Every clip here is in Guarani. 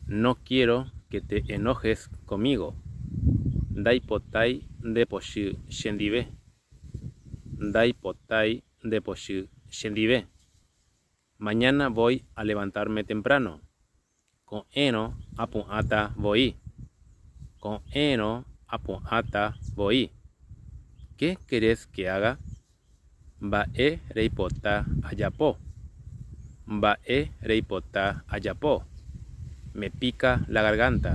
No quiero que te enojes conmigo, ndaipotái ndepochy chendive, ndaipotái ndepochy chendive. Mañana voy a levantarme temprano, ko'ẽrõ apu'ãta voi, ko'ẽrõ apu'ãta voi. Qué querés que haga? Mba'e reipota ajapo? Mba'e reipota ajapo? Me pica la garganta.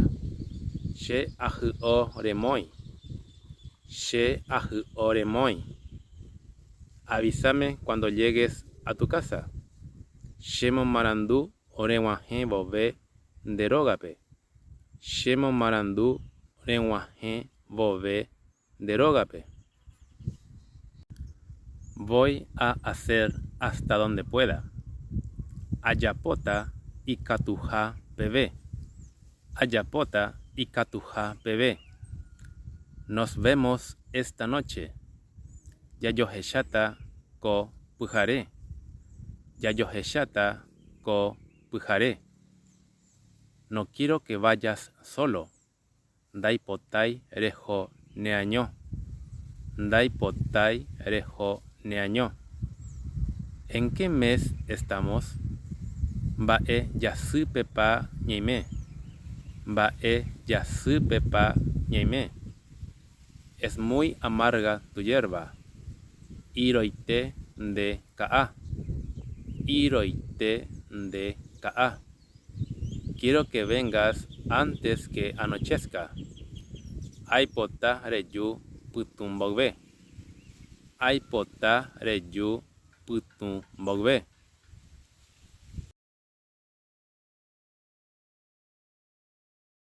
Che ahy'o remói. Che ahy'o remói. Avísame cuando llegues a tu casa. Che momarandu reg̃uahẽ vove nde rógape. Che momarandu reg̃uahẽ vove Nde rógape. Voy a hacer hasta donde pueda. Ajapóta ikatuha peve. Ajapóta ikatuha peve. Nos vemos esta noche. Jajohecháta ko pyhare. Jajohecháta ko pyhare. No quiero que vayas solo. Ndaipotái reho neaño. Ndaipotái reho neaño. En qué mes estamos? Mba'e jasýpepa ñaime? Mba'e jasýpepa ñaime? Es muy amarga tu yerba. Iroite nde ka'a. Iroite nde ka'a. Quiero que vengas antes que anochezca. Aipota reju pytũ mboyve. Aipota reju pytũ mboyve.